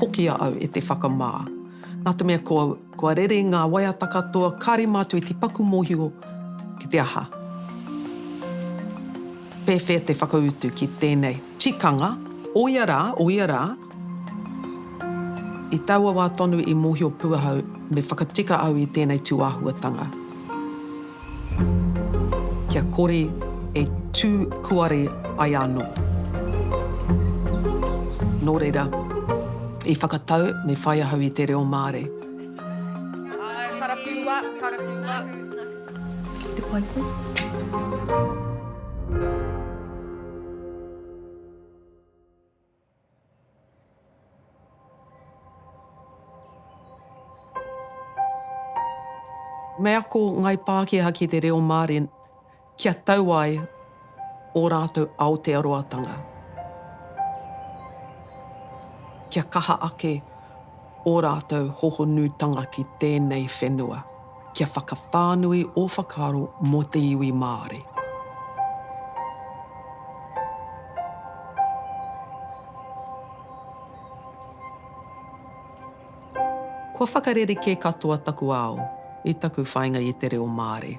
Hoki a au e te whakamā. Nā te mea kua, kua rere ngā waiata katoa, kāre mātou i te paku mōhio ki te aha. Pēwhea te whakautu ki tēnei tikanga, o ia rā, o ia rā, I taua wā tonu i mōhio pū ahau me whakatika au i tēnei tūāhuatanga. Kia kore e tū kuare ai anō. Nō reira, i whakatau me whai ahau i te reo Māori. Ae, karawhiua, karawhiua. Ki te pai koe. Me ako ngai Pākehā ki te reo Māori kia tau ai ō rātou Aotearoatanga, kia kaha ake ō rātou hohonutanga ki tēnei whenua. kia whakawhānui ō whakaaro mō te iwi Māori. Kua whakarerekē katoa taku ao i taku whāinga i te reo Māori.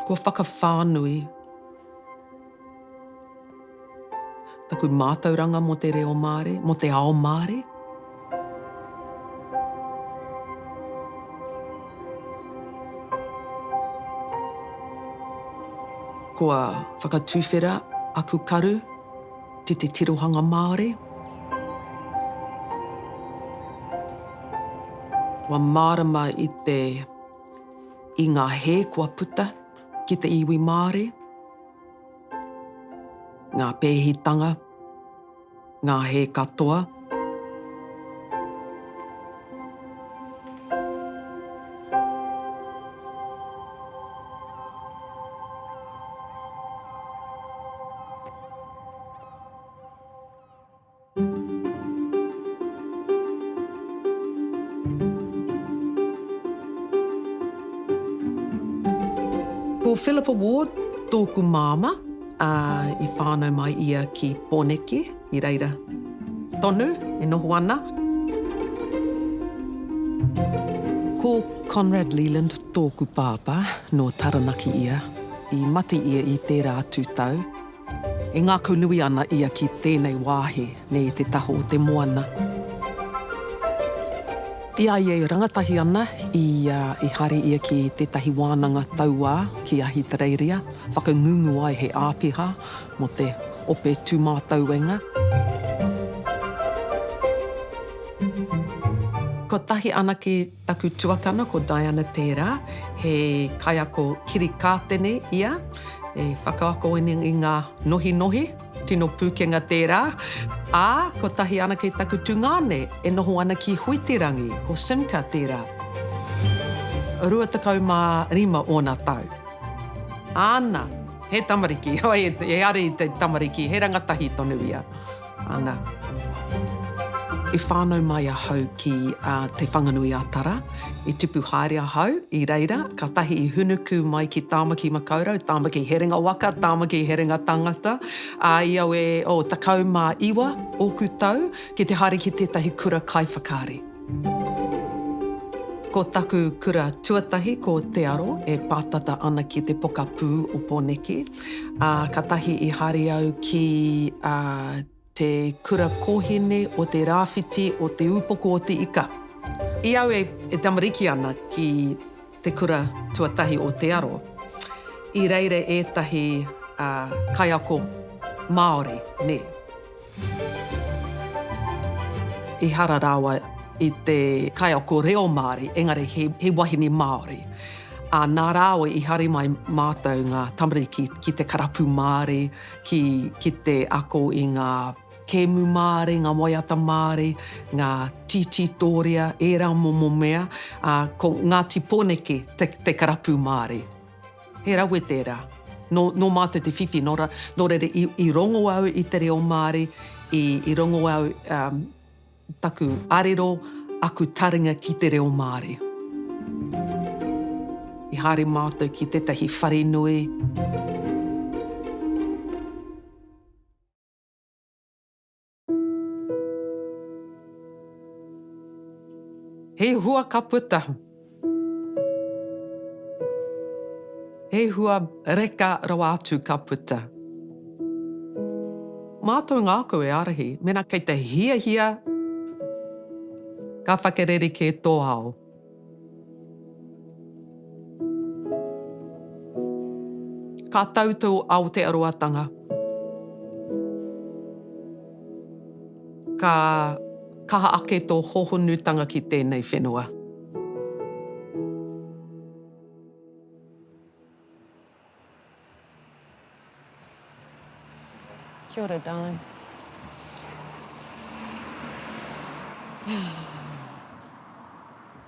Kua whakawhānui taku mātauranga mō te reo Māori, mō te ao Māori. Kua whakatuwhera aku karu ki te tirohanga Māori. Kua mārama i te i ngā hē kua puta ki te iwi Māori, ngā pēhitanga, ngā hē katoa, Ko Phillipa Ward tōku māmā, ā, i whānau mai ia ki Pōneke, i reira tonu e noho ana. Ko Conrad Leland tōku pāpā, nō Taranaki ia, i mate ia i tērā atu tau. E ngākau nui ana ia ki tēnei wāhi nei te taha o te moana. I a ia e rangatahi ana, i a, i haere ia ki tētahi wānanga tauā ki Ahitereiria, whakangungu ai he āpiha mō te ope tūmātauenga. Kotahi anake Taku tuakana ko Diana Tērā, he kaiako kirikātene ia, e whakaako ana i ngā nohinohi, tino pūkenga tērā, ā, kotahi anake taku tungāne e noho ana ki Huiterangi, ko Simka tērā. 25 ōna tau. Āna, he tamariki, he ara i te tamariki, he rangatahi tonu ia. Ana. I whānau mai ahau ki Te Whanganui-a-Tara. I tipu haere ahau i reira, kātahi i hunuku mai ki Tāmaki Makaurau, Tāmaki Herenga Waka, Tāmaki Herenga Tangata, ā, i au e 19 ōku tau, ki te haere ki tētahi kura kaiwhakaari. Ko taku kura tuatahi ko Te Aro e pātata ana ki te pokapū o Pōneke, ā, katahi i haere au ki te kura kōhine o te rāwhiti o Te Ūpoko o Te Ika. I au e tamariki ana ki te kura tuatahi o Te Aro, i reira ētahi kaiako Māori, nē. Ehara rawa i te kaiako reo Māori, engari he wahine Māori. Ā, nā rāua i hari mai mātou ngā tamariki ki te karapu Māori, ki te ako i ngā. Kēmu māre, ngā waiata māre, ngā tītī tōrea, ērā momo mea, ā, ko Ngāti Poneke te, te karapu māre. He rawe tērā. Nō, nō mātou te whiwhi, nō ra, nō reira i, i rongo au i te reo Māori, i, i rongo au, um, taku arero, aku taringa ki te reo Māori. I haere mātou ki tētahi wharenui. He hua ka puta. He hua reka rawa atu ka puta. Mātou ngākau e ārahi, mena kei te hiahia ka whakarere kē tō ao. Ka tau tō Aotearoatanga. Ka kaha ake tō hōhonutanga ki tēnei whenua. Kia ora, darling.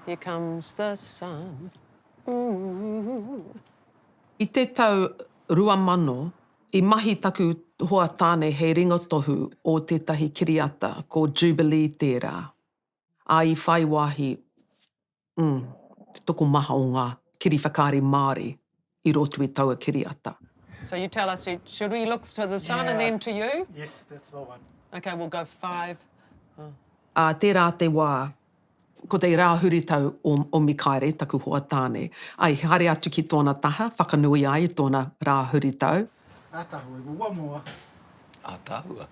Here comes the sun. Ooh. I te tau 2000, i mahi taku hoa tāne hei ringotohu o tētahi kiriata, ko Jubilee tērā, ā, i whai wāhi Umm, te tokomaha o ngā kiri whakaari Māori i roto i taua kiriata. So you tell us, should we look to the sun and then to you? Yes, that's the one. Okay, we'll go five. Ā tērā te wā, ko te rā huritau o Mikaere, taku hoa tāne, i haere atu ki tōna taha, whakanui ai i tōna rā huritau. Ataahua, we'll one more. Ataahua.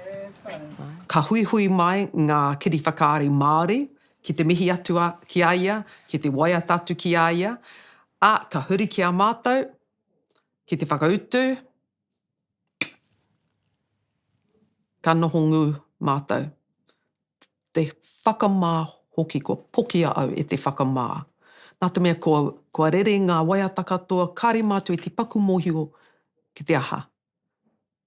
And starting. Ka huihui mai ngā kiri whakaari Māori ki te mihi atu a, ki a ia, ki te waiata atu ki a ia, a, ka huri ki a matou, ki te whakautu, ka noho ngu matou. Te whakama hoki, kua pokia au e te whakama. Na te mea kua, kua rere nga waiata katoa, kare matou e tipaku mohio ki te aha,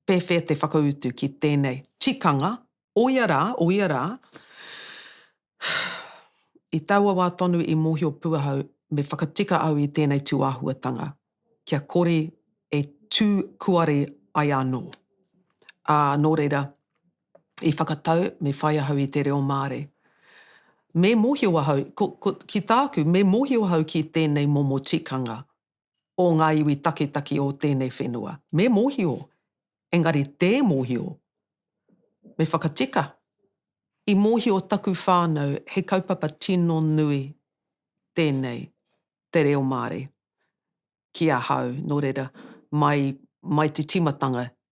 pewhea te whakautu ki tenei tikanga O ia rā, o ia rā, i taua wā tonu i mōhio pū ahau me whakatika au i tēnei tūāhuatanga kia kore e tū kuare ai anō. Ā, nō reira, i whakatau me whai ahau i te reo Māori. Me mōhio ahau, ko, ko, ki tāku, me mōhio ahau ki tēnei momo tikanga o ngā iwi taketake o tēnei whenua. Me mōhio, engari tē mōhio. Me whakatika, i mōhio taku whānau he kaupapa tino nui tēnei, te reo Māori, ki ahau, nō reira, mai, mai te tīmatanga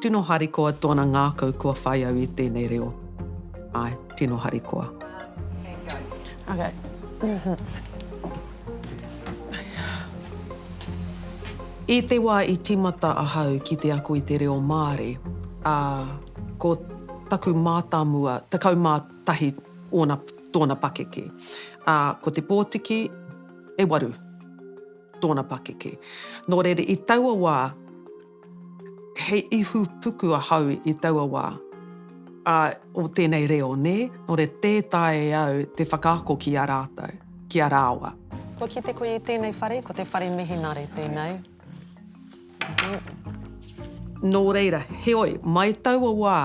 Tino harikoa tona ngakau kua whai au i tenei reo. Ae, tino harikoa. Okay. I te wa i timata ahau ki te ako i te reo Maare, a, ko taku matamua, 11 ona, tona pakeke. A, ko te potiki, e waru, tona pakeke. No reira, i taua wa, He ihu puku ahau i taua wā. Ā, o tēnei reo, nē? Nō re tē taea e au te whakaako ki a rātou, ki a rāua. Kua kite koe i tēnei whare, ko te whare Mihinare tēnei. Nō reira, heoi, mai taua wā,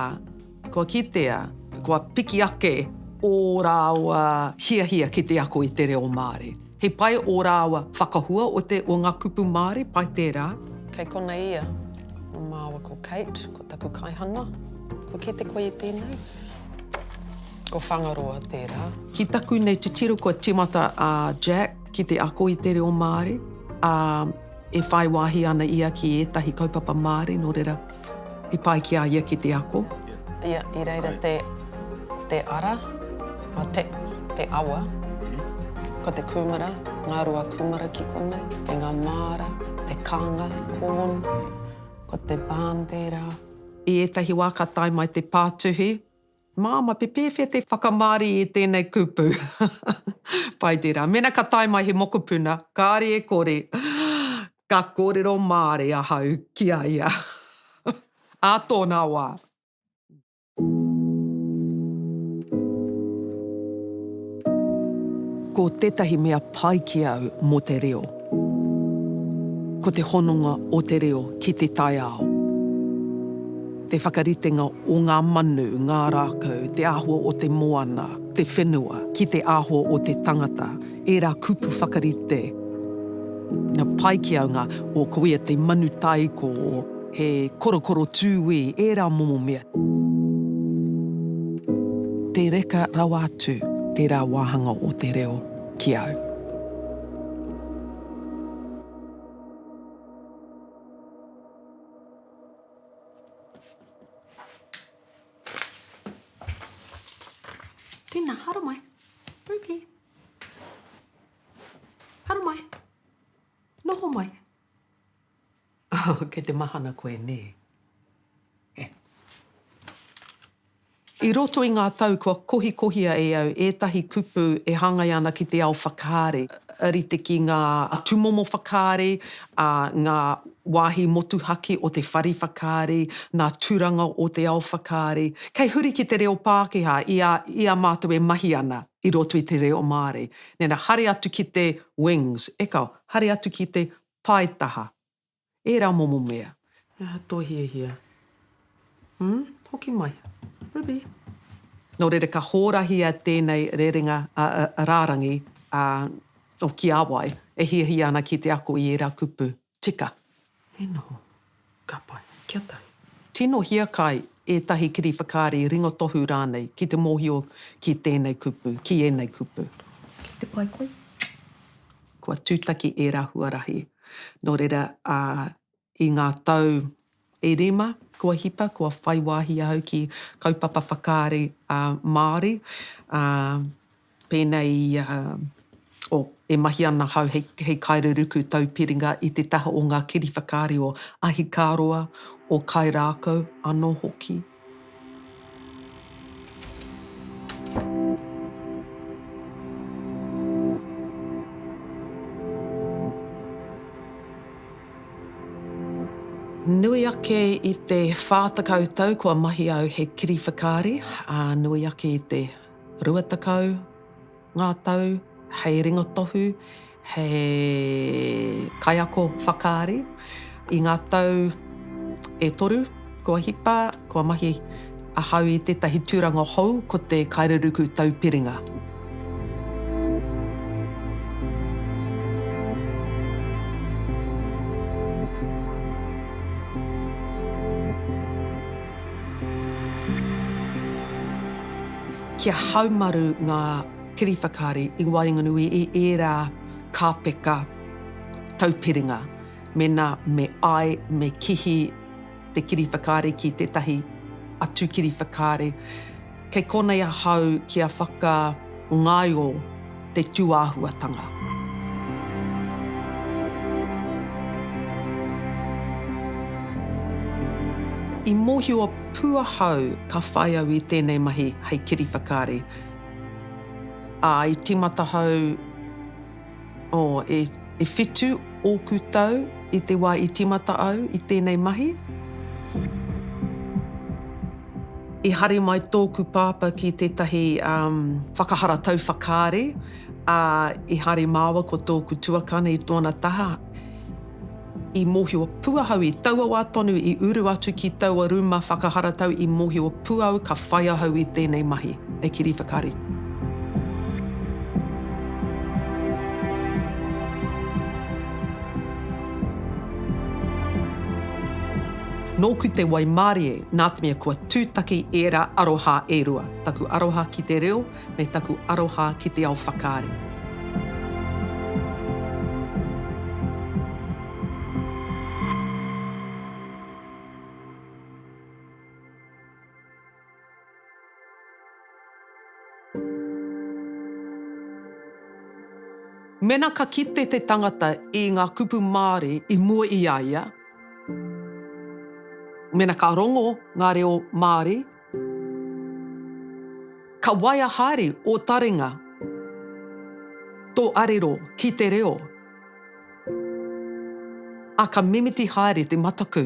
kua kitea, kua piki ake ō rāua hiahia ki te ako i te reo Māori. He pai ō rāua whakahua o te o ngā kupu Māori, pai tērā. Kei konei ia. Ko māua ko Kate, ko taku kaihana. Kua kī te koi i tēnei? Ko Whangaroa tērā. Ki taku nei titiro kua tīmata a Jack ki te ako i te reo Māori, ā, e whai wāhi ana ia ki ētahi kaupapa Māori, nō reira. I pai ki a ia ki te ako. Ia, i reira te, te ara, a, te, te awa. Ko te kūmara, ngā rua kūmara ki konei, me ngā māra, te kanga, corn, ko te bandera. I ētahi wā ka tae mai te pātuhi, Māmā, te pēwhea te whakamārie i tēnei kupu? Pai tērā. Mēnā ka tae mai he mokopuna, kāre e kore, ka kōrero Māori ahau ki a ia. Ā tōna wā. Ko tētahi mea pai ki au mō te reo. Ko te hononga o te reo ki te taiao, te whakaritenga o ngā manu, ngā rākau, te āhua o te moana, te whenua, ki te āhua o te tangata, ērā kupu whakarite Ngā paekiaunga o ko ia te manu tāiko, he korokoro tūī, ērā momo mea. Te reka rawa atu tērā wāhanga o te reo. ki au. Tēnā, haere mai. Ruby. Haere mai. Noho mai. Oh, kei te mahana koe, nē? He. I roto i ngā tau kua kohikohia e au ētahi kupu e hāngai ana ki te ao whakaari, rite ki ngā tūmomo whakaari, ngā wāhi motuhake o te whare whakaari, ngā tūranga o te ao whakaari, kei huri ki te reo Pākehā i a, i a mātou e mahi ana i roto i te reo Māori. Nena, haere atu ki te wings, eka, haere atu ki te Paetaha. Era momo mea. He aha to hiahia? Umm, hoki mai. Ruby. No reira ka horahia tenei rerenga rarangi o Kiawai e hiahia ana ki te ako i era kupu. Tika. He noho. Ka pai. Kia tahi. Tino hiakai ētahi kiri whakaari, ringotohu rānei ki te mōhio ki tēnei kupu, ki ēnei kupu. Ki te pai koe. Kua tūtaki ērā huarahi. Nō reira, ā, i ngā tau e rima kua hipa, kua whai wāhi ahau ki kaupapa whakaari Māori, ā, Pēnei i a, oh, e mahi ana ahau hei, hei kaereruku tau piringa i te taha o ngā kiri whakaari o Ahikāroa, o Kairākau anō hoki. Nui ake i te whā tekau tau kua mahi au hei kiri whakaari, ā, nui ake i te. Rua tekau ngā tau hei ringotohu, hei kaiako whakaari. I ngā tau e toru kua hipa, kua mahi ahau i tētahi tūranga hou ko te Kaireruku Taupiringa. Kia haumaru ngā kiri whakaari i waenganui i ērā kāpeka taupiringa mēnā me āe, me kihi te kiri whakaari ki tētahi atu kiri whakaari. Kei konei ahau kia whakangaio te tūāhuatanga. I mōhio pū ahau ka whai au i tēnei mahi hei kiriwhakaari, ā, i tīmata ahau. Oh, e, e whitu ōku tau i te wā i tīmata au i tēnei mahi. I hari mai tōku pāpā ki tētahi, um, whakaharatau whakaari, ā, i hari māua ko tōku tuakana i tōna taha. i mōhio pū ahau i taua wā tonu i uru atu ki taua rūma whakaharatau i mōhio pū au ka whai ahau i tēnei mahi hei kiriwhakaari. Nōku te waimarie nātemea kua tūtaki ērā aroha e rua, taku aroha ki te reo, me taku aroha ki te ao whakaari. Mena ka kite te tangata i nga kupu Maori i mua i a ia, mena ka rongo nga reo Maori, Ka waia haere ō taringa, tō arero ki te reo, ā, ka mimiti haere te mataku.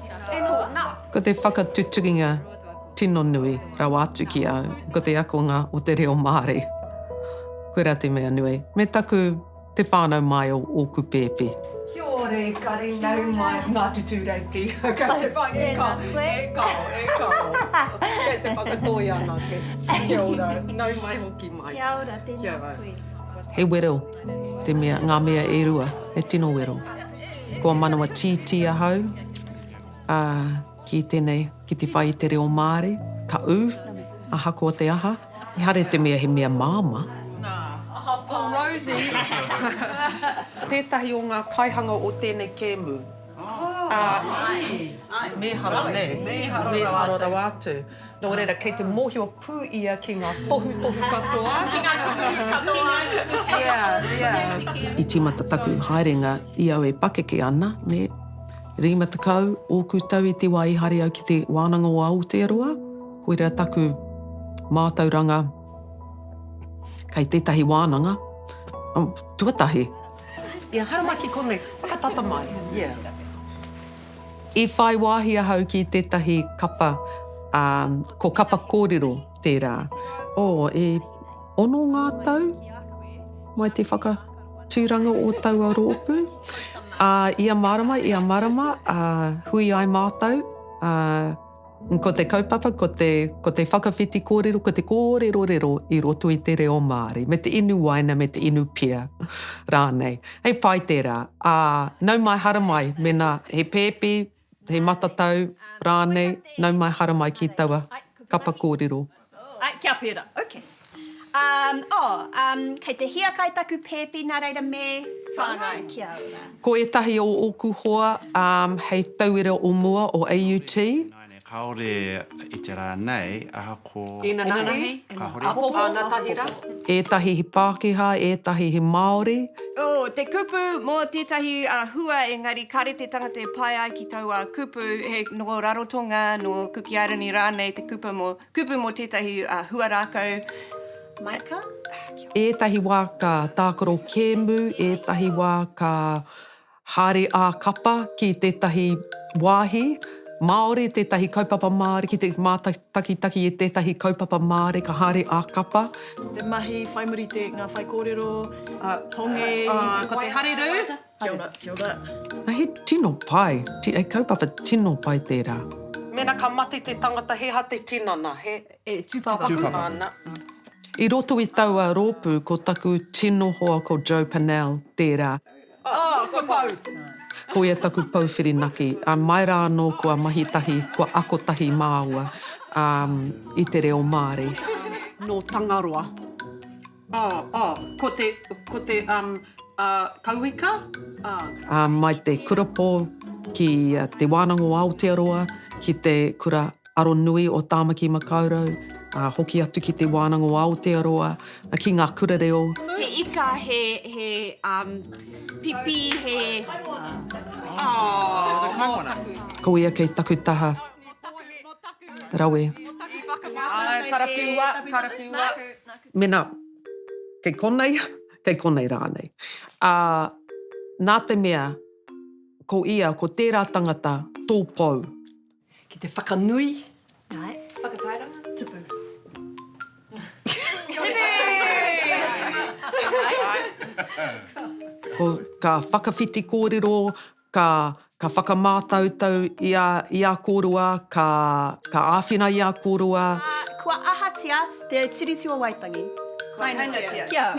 Ko te whakatutukinga tino nui rawa atu ki au, ko te akonga o te reo Māori. Koirā te mea nui. Me taku te whānau mai o ōku pēpi. Kia ora e kare, nau mai ngā tutūreiti. Kei te whai, e kao, e kao, e kao. Kei te whakatoi anake. Kia ora, nau mai hoki mai. Kia ora, tēnā koe. He wero te mea, ngā mea e rua, he tino wero. Kua manawa tītī ahau ki tēnei, ki te whai i te reo Māori, ka ū, ahakoa te aha. Ehara i te mea he mea māmā. Nā, ko Rosie tētahi o ngā kaihanga o tēnei kēmu. Mēhara, nē? Mēhara rawa atu. Nō reira, kei te mōhio pū ia ki ngā tohutohu katoa. Ki ngā kupu katoa. Ia, ia. I tīmata taku haerenga i au e pakeke ana, nē. Rima tekau ōku tau i te wā i haere au ki te Wānanga o Aotearoa, koirā taku mātauranga kei tētahi wānanga, tuatahi. Ia, haramaki konei, whakatata mai, ia. I whai wāhi ahau ki tētahi kapa, ā, ko kapa kōrero tērā. Oh, e ono ngā tau mai te whakatūranga o taua rōpū. Ā, ia marama, ia marama, ā, hui ai mātou, ā, Ko te kaupapa, ko te, ko te whakawhiti kōrero, ko te kōrerorero i roto i te reo Māori, me te inu waina, me te inu pia rānei. Hei pai tērā. Ā, nau mai hara mai, mēnā he pēpi, he matatau rānei, nau mai hara mai ki taua kapa kōrero. Ae, kia pērā, ok. Um, oh, um, kei te hiakai taku pēpi, nā reira me whāngai ki a ora. Ko ētahi o ōku hoa um, hei tauira o mua o AUT. Nāne kāore i te rā nei, ahakoa. Inanahi, apopo, anatahi rā. Ētahi he Pākehā, ētahi he Māori. Oh, te kupu mō tētahi uh, hua engari kāre te tangata e pae ai ki. Taua kupu, he nō Rarotonga, nō Kuki Airani rānei te kupu mō, kupu mō tētahi huarākau maika. Ētahi wā ka tākaro kēmu, ētahi wā ka haere ā-kapa ki tētahi wāhi Māori, tētahi kaupapa Māori, ki te mātakitaki i tētahi kaupapa Māori ka haere ā-kapa. Te mahi, whai muri te, ngā whaikōrero, hongi. Ko te harirū. Kia ora, kia ora. Na he tino pai, ti a kaupapa tino pai tera. Mena ka mate te tangata he aha te tinana, he. E tupapapa ana. I roto i taua ropu ko taku tino hoa ko Joe Pannell tera. Oh, ko Pou. Ko ia taku pou whirinaki, a mai ra ano kua mahi tahi, kua ako tahi maua, um, i te reo Maori. No Tangaroa. Oh, oh, ko te, ko te um, uh, kauika. Oh. Uh, mai te kurapō ki uh, te wānanga o Aotearoa, ki te kura aronui o Tāmaki Makaurau, uh, hoki atu ki te wānanga o Aotearoa, uh, ki ngā kura reo. He ika, he, he um, pipi, he... Oh, oh, oh, Ko ia kei taku taha. Rawe. Rawe. Karafiua, karafiua. Mena, kei konei, kei konei rānei. Ā, nā te mea, ko ia, ko tērā tangata, tō pou. Ki te whakanui. Āe. Whakatairanga, tupu. Tipu! Ko, ka whakawhiti kōrero, Ka, ka whakamātautau i a, i a kōroa, ka, ka āwhina i a kōroa. Ā, kua ahatia Te Tiriti o Waitangi? Kua hainatia. Kia.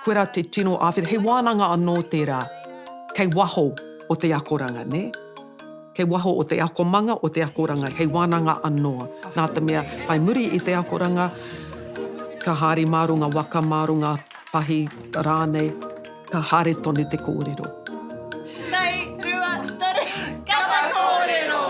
Koirā te tino āwhina. He wānanga anō tērā kei waho o te akoranga, nē? Kei waho o te akomanga, o te akoranga, hei wānanga anō. Nā te mea, whai muri i te akoranga, ka haere mā runga waka, mā runga pahi rānei. Ka haere tonu te kōrero. Nei, rua, toru, kapa kōrero!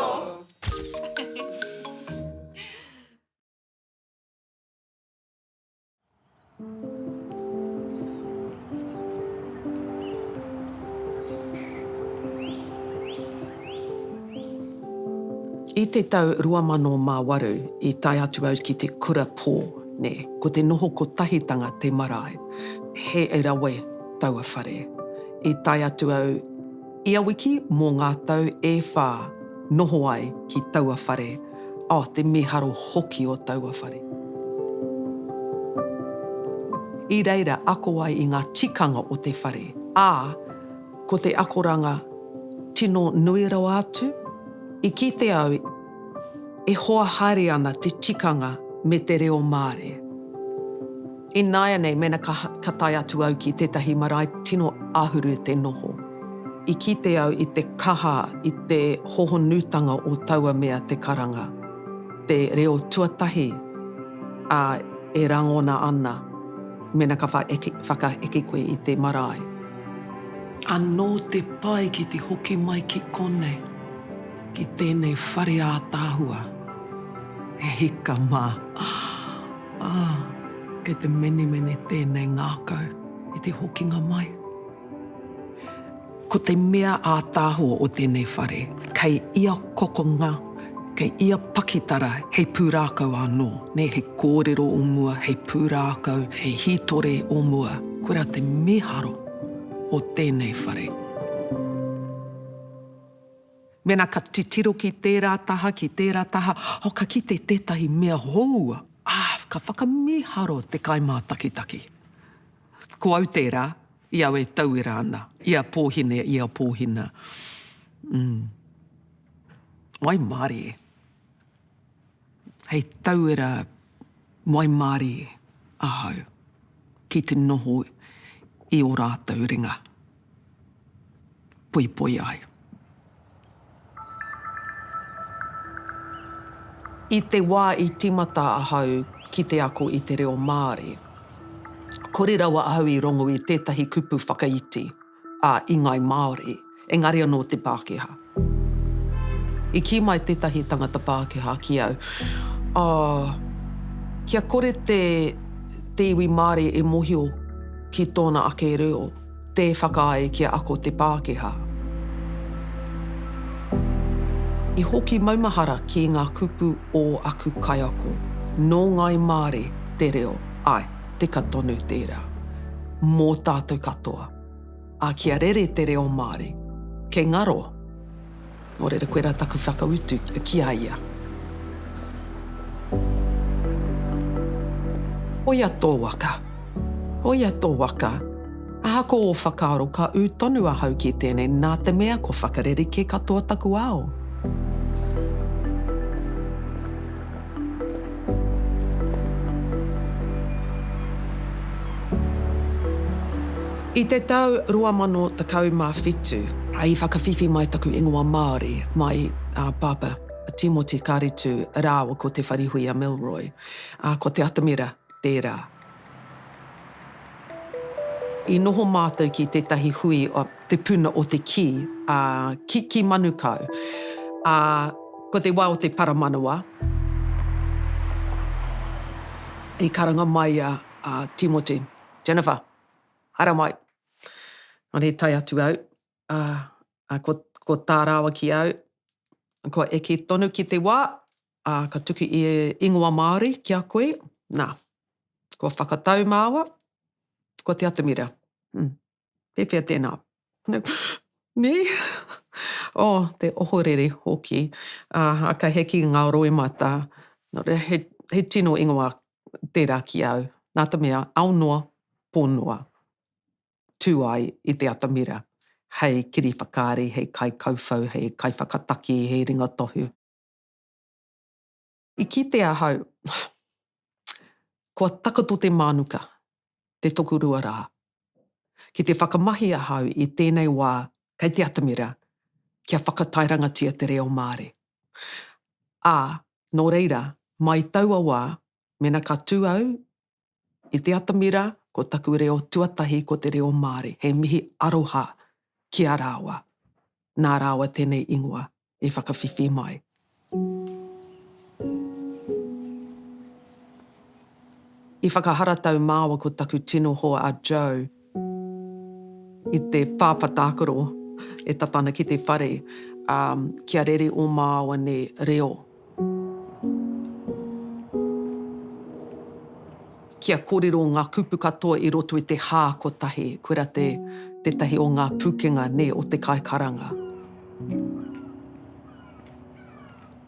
I te tau 2008 i tae atu au ki te kura pō, nē, ko te noho kotahitanga te marae. He rawe taua whare. I tae atu au ia wiki mō ngā tau e whā noho ai ki taua whare. Oh, te mīharo hoki o taua whare. I reira ako ai i ngā tikanga o te whare, ā, ko te akoranga tino nui rawa atu, i kite au, E hoa haere ana te tikanga me te reo Māori. Ināianei mēnā ka tae atu au ki tētahi marae tino āhuru te noho, i kite au i te kaha i te hohonutanga o taua mea te karanga, te reo tuatahi, ā, e rangona ana mēnā ka whakaeke koe i te marae. Anō te pai ki te hoki mai ki konei. Ki tēnei whare ātaahua, he hika mā. Ah, ah, kei te menemene tēnei ngākau i te hokinga mai. Ko te mea ātaahua o tēnei whare, kei ia kokonga, kei ia pakitara hei pūrākau anō, nē, hei kōrero o mua, hei pūrākau, hei hītore o mua. Koirā te mīharo o tēnei whare. Mēnā ka titiro ki tērā taha, ki tērā taha, oh, ka kite tētahi mea hou, ah, ka whakamīharo te kaimātakitaki. Ko au tērā, i au e tauira ana, i a Pōhine, i a Pōhina. Umm. Waimarie. Hei tauira waimārie ahau ki te noho i ō rātou ringa poipoi ai. I te wā i tīmata ahau ki te ako i te reo Māori, kore rawa ahau i rongo i tētahi kupu whakaiti. ā, i ngāi Māori, engari anō te Pākehā. I kī mai tētahi tangata Pākehā ki au, ā, kia kore te, te iwi Māori e mōhio ki tōna ake reo, tē whakaae kia ako te Pākehā. I hoki maumahara ki ngā kupu ō aku kaiako, nō ngāi Māori te reo, āe. teka tonu tērā. Mō tātou katoa. Ā, kia rere te reo Māori. Kei ngaro. Nō reira, koirā taku whakautu ki a ia. Hoia tō waka. Hoia tō waka. Ahako ō whakaaro, ka ū tonu ahau ki tēnei, nā te mea kua whakarerekē katoa taku ao. I te tau 2017, i whakawhiwhi mai taku ingoa Māori, mai a Pāpā Tīmoti Kāretu rāua ko Te Wharihuia Milroy, ā, ko Te Atamira tērā. I noho mātou ki tētahi hui, Te Puna o te Kī, ā, ki, ki Manukau. Ā, ko te wā o te paramanawa, i karanga mai a, a Tīmoti, Jennifer, haere mai. Nō i tae atu au, ā, ā, ko, ko tā rāua ki au, kua eke tonu ki te wā, Ā, ka tuku ia ingoa Māori ki a koe, nā, kua whakatau māua, ko Te Atamira. Hm, pēwhea tēnā? Nē? Oh, te ohorere hoki. Ā, ka heke ngā roimata. Nō reira, he, he tino ingoa tērā ki au. Nā te mea, ao noa, pō noa, tū ai i Te Atamira hei kiriwhakaari, hei kaikauwhau, hei kaiwhakataki, hei ringatohu. I kite ahau, kua takoto te mānuka, te tokorua rā. Ki te whakamahi ahau i tēnei wā kei te atamira kia whakatairangatia te reo Māori. Ā, nō reira, mai taua wā, mena ka tū au I te atamira, ko taku reo tuatahi ko te reo Māori. He mihi aroha ki a rāua. Nā rāua tēnei ingoa i whakawhiwhi mai. I whakaharatau māua ko taku tino hoa a Joe. I te pāpā tākaro e tata ana ki te whare, ā, kia rere ō māuane reo. Kia kōrero ngā kupu katoa i roto i te hā kotahi, koirā te, tētahi o ngā pūkenga, nē, o te kaikaranga.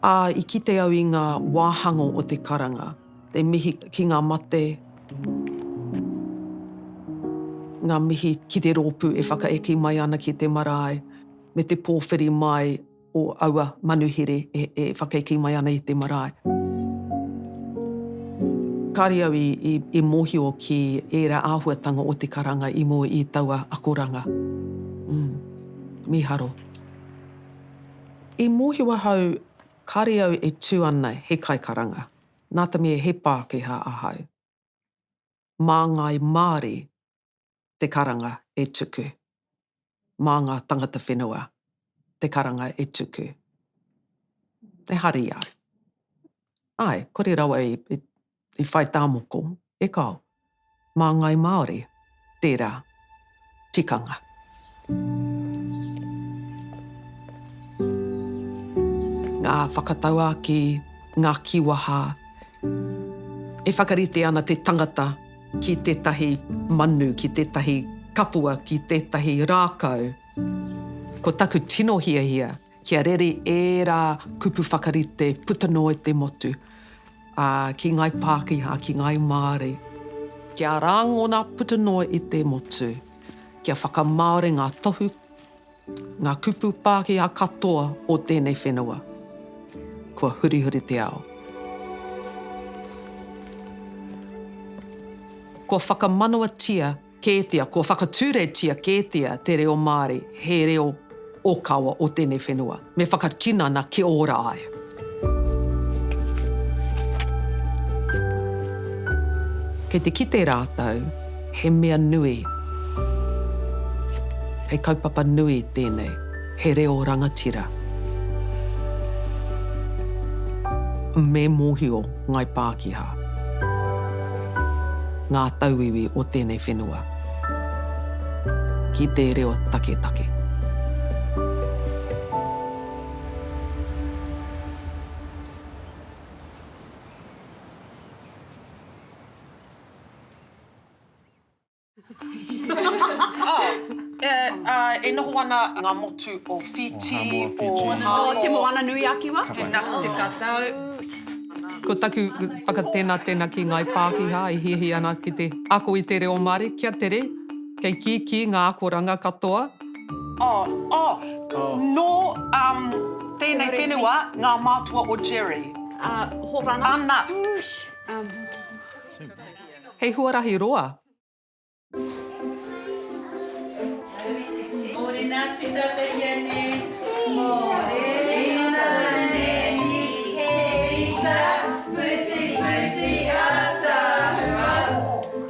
Ā, i kite au i ngā wāhangō o te karanga. Te mihi ki ngā mate. Ngā mihi ki te rōpū e whakaeke mai ana ki te marae, me te pōwhiri mai o aua manuhere e whakaeke mai ana i te marae. Kāre au i mōhio ki ērā āhuatanga o te karanga i mua i taua akoranga. Mīharo. I mōhio ahau Kāre au e tū ana he kaikaranga, nā te mea he Pākehā ahau. Mā ngāi Māori te karanga e tuku. Mā ngā tangata whenua te karanga e tuku. E hari au. Āe, kore rawa e i whai tā moko, e kāo. Mā Ngāi Māori tērā tikanga. Ngā whakatauākī, ngā kīwaha, e whakarite ana te tangata ki tētahi manu, ki tētahi kapua, ki tētahi rākau. Ko taku tino hiahia, Kia rere ērā kupu whakarite puta noa i te motu, ā, ki Ngāi Pākehā, ki Ngāi Māori. Kia rāngona puta noa i te motu, kia whakamāori ngā tohu, ngā kupu Pākehā katoa o tēnei whenua. Kua hurihuri te ao. Kua whakamanawatia Kētia, kua whakaturetia kētia te reo Māori he reo ōkawa o tēnei whenua, me whakatinana kia ora ai. Kei te kite rātou he mea nui, he kaupapa nui tēnei. He reo rangatira. Me mōhio Ngāi Pākehā ngā tauiwi o tēnei whenua ki te reo taketake. E noho ana ngā motu o Whītī, o Hāmoa. Te Moana-nui-a-Kiwa. Tēnā te tatau. Ko taku whakatēnā tēnā ki Ngāi Pākehā e hiahia ana ki te ako i te reo Māori, kia tere, kei kīkī ngā akoranga katoa. Oh, oh, nō tēnei whenua ngā mātua o Jerry. Ana. Ana. Hei huarahi roa!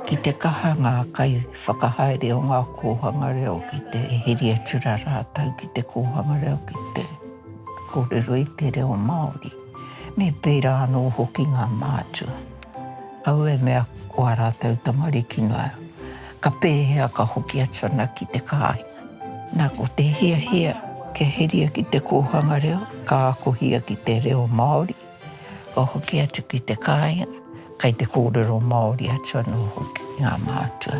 Ki te kaha ngā kaiwhakahaere o ngā kōhanga reo ki te heri atu rā rātou ki te kōhanga reo ki te kōrero i te reo Māori, me pērā anō hoki ngā mātua. Au e mea ko a ratou tamariki noa, ka pehea ka hoki atu ana ki te kahinga? Na ko te hiahia kia heria ki te kohanga reo, ka akohia ki te reo Maori, ka hoki atu ki te kahinga, kai te korero Maori atu ano hoki ki nga mātua.